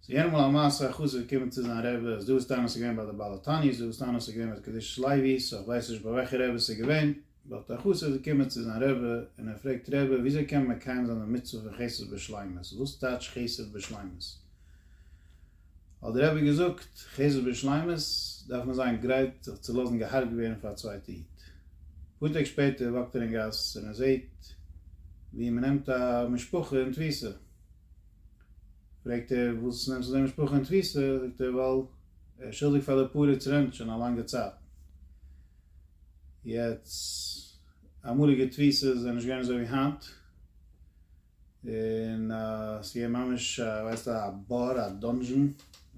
ס'איז יענע מאל א מעשה א חסיד געקומען צו זיין רבי, אז דא איז טענות געווען ביי די בעל התענית, דא איז טענות געווען ביי די קדושת לוי, סא כ'ווייס נישט ביי וועלכע רבי ס'איז געווען, באט א חסיד איז געקומען צו זיין רבי און ער פרעגט רבי וויאזוי קען מען מקיים זיין די מצוה פון חסד בשלימות, וואס טייטש חסד בשלימות? האט דער רבי געזאגט, חסד בשלימות דארף מען זיין גרייט זיך צו לאזן גע'הרג'ט ווערן פאר א צווייטע איד. אפאר טעג שפעטער וואקט ער אין גאס און ער זעהט ווי מ'נעמט א משפחה אין תפיסה. פרעגט ער וואס נעמסטו אזוי משפחה אין תפיסה, זאגט ער ווייל ער שולדיג פאר די פרץ רענט שוין א לאנגע צייט, יעצט אמאליגע תפיסות זענען נישט געווען אזוי ווי היינט, און עס געווען ממש א ווייסט א באר א דאנזשען,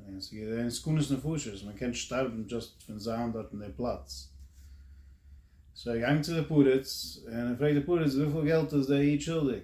און עס געווען סכנות נפשות, מען קען שטארבן דזשאסט פון זיין דארט אין די פלאץ, סאו ער געגאנגען צו די פרץ און ער פרעגט די פרץ וויפיל געלט איז די איד שולדיג?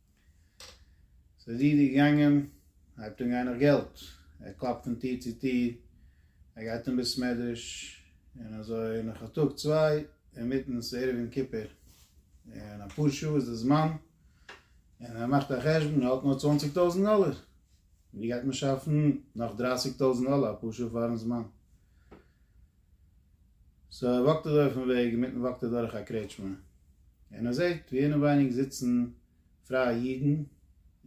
ס'איז די איד געגאנגען, הייבט אן גיין נאך געלט, ער קלאפט פון טיר צו טיר, ער גייט אין בית מדרש, און אזוי נאך א טאג צוויי, אינמיטן ס'איז ערב יום כיפור, און אפאר שעה איז די זמן, און ער מאכט א חשבון, ער האט נאר צוואנציג טויזנט דאלער, ווי גייט מען שאפן נאך דרייסיג טויזנט דאלער אפאר שעה פארן זמן? סאו ער וואקט אזוי אויפן וועג, אינמיטן וואקט ער דורך א קרעטשמע, און ער זעט ווי אינעווייניג זיצן פרייע אידן,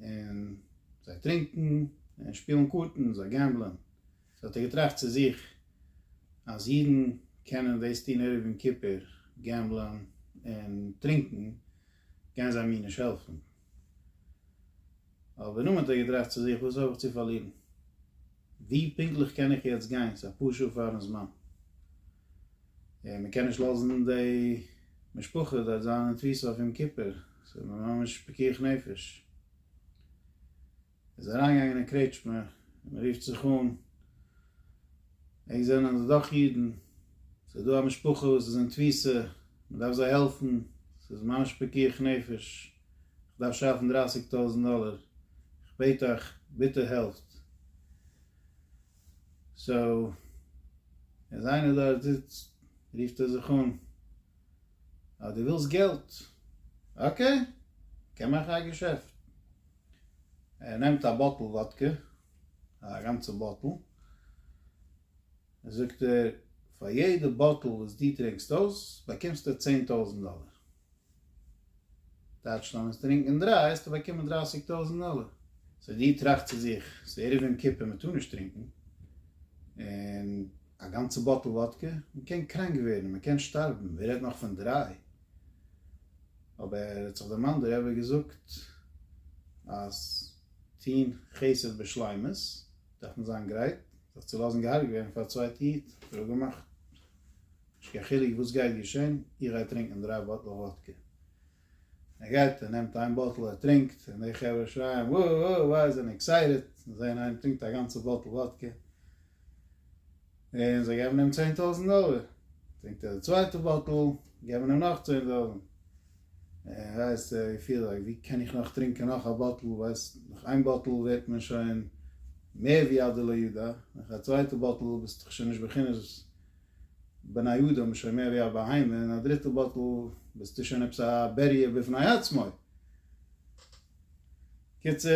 און זיי טרינקן, און שפילן קארטן, זיי געמבלען, סאו האט ער געטראכט צו זיך, אז אידן קענען דאס טון ערב יום כיפור, געמבלען און טרינקן, גייען זיי מיר נישט העלפן, אבער נאכדעם האט ער געטראכט צו זיך, וואס האב איך צו פארלירן? ווי פונקטליך קען איך יעצט גיין? ס'איז אפאר שעה פאר'ן זמן, און מען קען נישט לאזן די משפחה דארט זיין אין תפיסה אויף יום כיפור, ס'איז ממש פיקוח נפש. איז אריינגעגאנגען אין קרעטשמע און מען רופט זיך אן, ענק זענען דאך אידן, ס'איז דא א משפחה וואס איז אין תפיסה, מען דארף זיי העלפן, ס'איז ממש פיקוח נפש, איך דארף שאפן דרייסיג טויזנט דאלער, איך בעט אייך, ביטע העלפט. סאו, איז איינער דארט זיצט, רופט ער זיך אן, אה, דו ווילסט געלט? אקעי, מ'קען מאכן א געשעפט. ער נעמט א באטל וואדקע, א גאנצע באטל, זאגט ער, פאר יעדע באטל וואס דו טרינקסט אויס, באקומסטו צען טויזנט דאלער. טייטש, לאמיר טרינקען דריי, וועסטו באקומען דרייסיג טויזנט דאלער. סאו דו טראכסט צו זיך, ס'איז ערב יום כיפור, מען טאר נישט טרינקען, און א גאנצע באטל וואדקע, מען קען קראנק ווערן, מען קען שטארבן, ווער רעדט נאך פון דריי. אבער האט זיך דער מאן דער רבי געזאגט אז טוהן חסד בשלימות דארף מען זיין גרייט זיך צו לאזן געהארגעט ווערן פאר א צווייטע איד, ער האט געמאכט נישט קיין חילוק וואס גייט געשען, איך גיי טרינקען דריי באטל וואדקע, ער גייט ער נעמט איין באטל ער טרינקט און די חברה שרייען וואו וואו וואו זענען עקסייטעד זעהן איינער טרינקט א גאנצע באטל וואדקע. און זיי געבן אים צען טויזנט דאלער, טרינקט ער די צווייטע באטל, געבן אים נאך צען טויזנט, און ווייסט ער געפיל זיך ווי קען איך נאך טרינקען נאך א באטל, ווייסט נאך איין באטל ווערט מען שוין מער ווי א דלא ידע, נאך א צווייטע באטל ביסט דאך שוין נישט בחינת בני אדם, שוין מער ווי א בהמה, און א דריטע באטל ביסטו שוין עפעס א בעריה בפני עצמו. קיצור,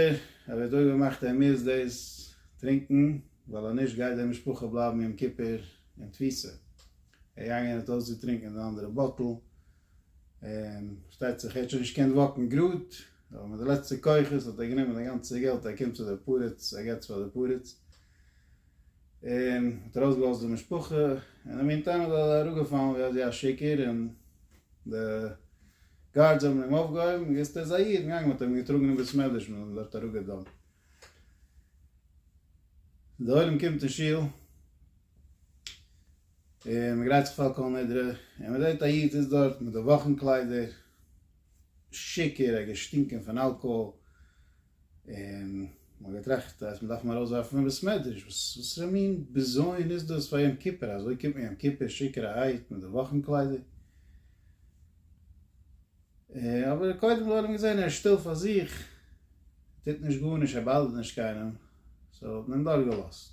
ער וועט אויב ער מאכט ער מוז דאס טרינקן ווייל אז נישט גייט די משפחה בלייבן יום כיפור אין תפיסה, ער געגאנגען האט אויסגעטרינקען די אנדערע באטל, און פארשטייט זיך ער האט שוין נישט געקענט וואקן גראד, אבער מיט די לעצטע כוחות האט ער גענומען די גאנצע געלט ער קומט צו די פרץ ער געבט פאר די פרץ. און האט ארויסגעלאזט די משפחה, און אין די מינטיים איז ער אראפגעפאלן ווי אזוי א שיכור, און די גארדס האבן אים אויפגעהויבן, און געוויסט ער איז א איד, און געגאנגען, מ'האט אים געטראגן אין בית מדרש, מ'האט אים דארט אראפגעדאן. די עולם קומט אין שול, און מ'גרייט זיך פאר כל נדרי, און מ'זעט א איד זיצט דארט מיט די וואכן קליידער, שיכור, ער האט געשטינקען פון אלקאהאל, און מ'האט געטראכט אז מ'דארף אים ארויסווארפן פון בית מדרש, וואס'רע מין בזיון איז דאס פאר יום כיפור, אזוי קומט מען יום כיפור שיכור'ערהייט מיט די וואכן קליידער? אבער קודם לאמיר אים זען, ער איז שטיל פאר זיך, ער טוט נישט גארנישט, ער באדערט נישט קיינעם, סאו האט מען אים דורכגעלאזט.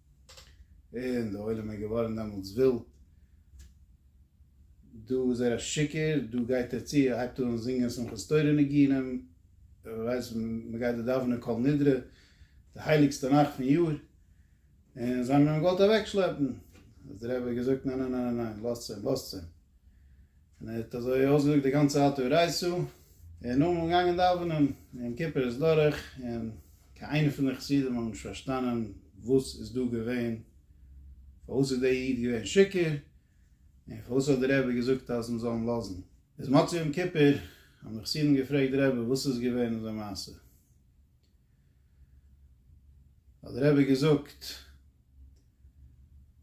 און די עולם איז געווארן דעמאלטס ווילד, דא איז ער א שיקער, דא גייט ער צו, הייבט אן זינגען שמחת תורה ניגונים, ווער ווייסט מ'גייט דא דאווענען כל נדרי, די הייליגסטע נאכט פון יאר, און זיי האבן אים געוואלט אוועקשלעפן, האט די רבי געזאגט ניין ניין ניין ניין ניין, לאזטס אים, לאזטס אים. און ער האט אזוי אויסגעזאגט די גאנצע אתו רייסו, און נאכדעם איז מען געגאנגען דאווענען, יום כיפור איז דורך, און קיין איינער פון די חסידים האבן נישט פארשטאנען וואס איז דא געווען, פארוואס איז דער איד געווען שיכור, און פארוואס האט דער רבי געזאגט אז מען זאל אים לאזן. איז מצות יום כיפור האבן די חסידים געפרעגט די רבי וואס איז געווען אזוי מעשה. האט דער רבי געזאגט,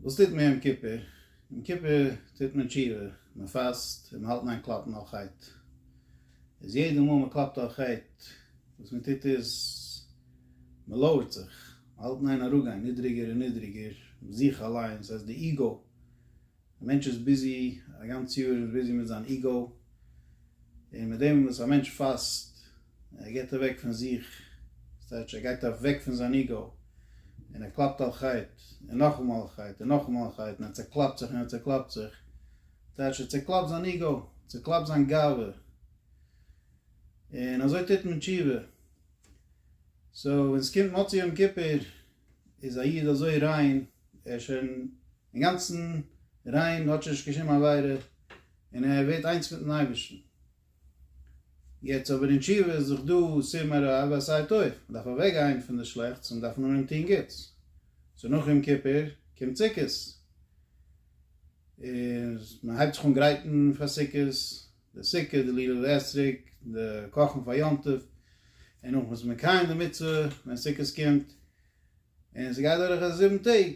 וואס טוט מען יום כיפור? יום כיפור טוט מען תשובה, מען פאסט און מען האלט ניין קלאפן אויף חטא. איז יעדע מאל מען קלאפט אויף חטא, וואס מען טוט איז, מען לויערט זיך, מען האלט ניין אראפגיין נידריגער און נידריגער, זיך אליינס, סאיז די איגו א מענטש איז ביזי א גאנץ יאר איז ביזי מיט זיין איגאו, און מיט דעם וואס א מענטש פאסט, ער געבט אוועק פון זיך, דאס טייטש ער גייט אוועק פון זיין איגאו, און ער קלאפט על חטא, און נאכאמאל על חטא, און נאכאמאל על חטא, און ער צעקלאפט זיך און ער צעקלאפט זיך, טייטש ער צעקלאפט זיין איגאו, צעקלאפט זיין גאווה, און אזוי טוט מען תשובה. סאו ווען עס קומט מוצאי יום כיפור, איז א איד אזוי ריין, ער איז שוין אינגאנצן ריין, האט שוין נישט קיין שום עבירה, און ער ווערט איינס מיטן אייבערשטן. יעצט אבער אין תשובה איז דאך דא סיום הרע ועשה את טוב, מען דארף אוועק גיין פון די שלעכטס און מען דארף נאר אים טון גוטס. סאו נאך יום כיפור קומט סוכות, און מען הייבט זיך אן גרייטן פאר סוכות, די סוכה, די ליל האסריג, די קאכן פאר יום טוב, און נאכדעם איז מען מקיים די מצוה ווען סוכות קומט, און ס'גייט דורך די זיבן טעג,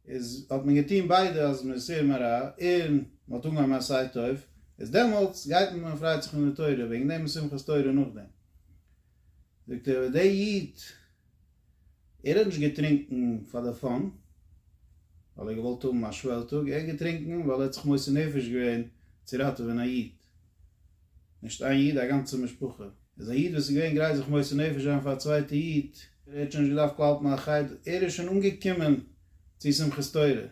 איז האט מען געטון ביידע אז מען איז סור מרע און מען האט אנגעהויבן א עשה טוב, איז דעמאלטס גייט מען און פריידט זיך אין די תורה, וועגן דעם איז שמחת תורה נאכדעם. זאגט ער אבער דער איד ער האט נישט געטרינקן פאר די פאן ווייל ער האט געוואלט האבן א שוועל טאג, ער האט געטרינקן ווייל ער האט זיך מוסר נפש געווען צו ראטעווען א איד, נישט איין איד א גאנצע משפחה, איז א איד וואס איז געווען גרייט זיך מוסר נפש זיין פאר א צווייטע איד, ער האט שוין נישט געדארפט קלאפן א חדר, ער איז שוין אנגעקומען צו שמחת תורה,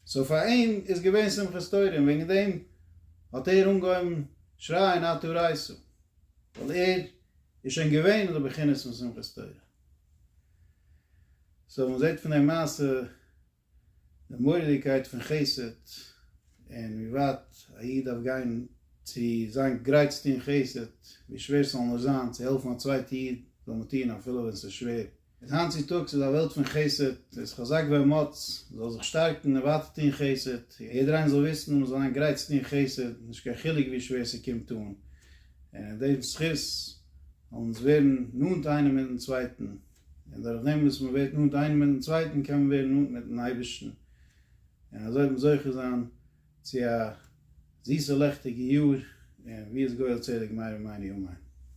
סאו פאר אים איז געווען שמחת תורה און וועגן דעם האט ער אנגעהויבן שרייען אתה רייסו, ווייל ער איז שוין געווען אין די בחינות פון שמחת תורה. סאו מען זעט פון די מעשה די מורא'דיגקייט פון חסד, און ווי ווייט א איד דארף גיין צו זיין גרייט צו טון חסד, ווי שווער ס'זאל נאר זיין צו העלפן א צווייטע איד זאל מען טון אפילו ווען ס'איז שווער, איז היינט צו טאגס איז א וועלט פון חסד, זייטס חזק ואמץ, מ'זאל זיך שטארקן און ווייטער טון חסד, יעדער איינער זאל וויסן אז מ'זאל זיין גרייט צו טון חסד, נישט קיין חילוק ווי שווער ס'קומט אן, און אין דעם זכות זאל אונז ווערן נאנט איינער מיטן צווייטן, און דורך דעם וואס מ'ווערט נאנט איינער מיטן צווייטן קען מען ווערן נאנט מיטן אייבערשטן, און אזוי וועט מען זוכה זיין צו א זיסע לעכטיגע יאר, און ווי איז גואל צדק מהר א ומהר א אמן.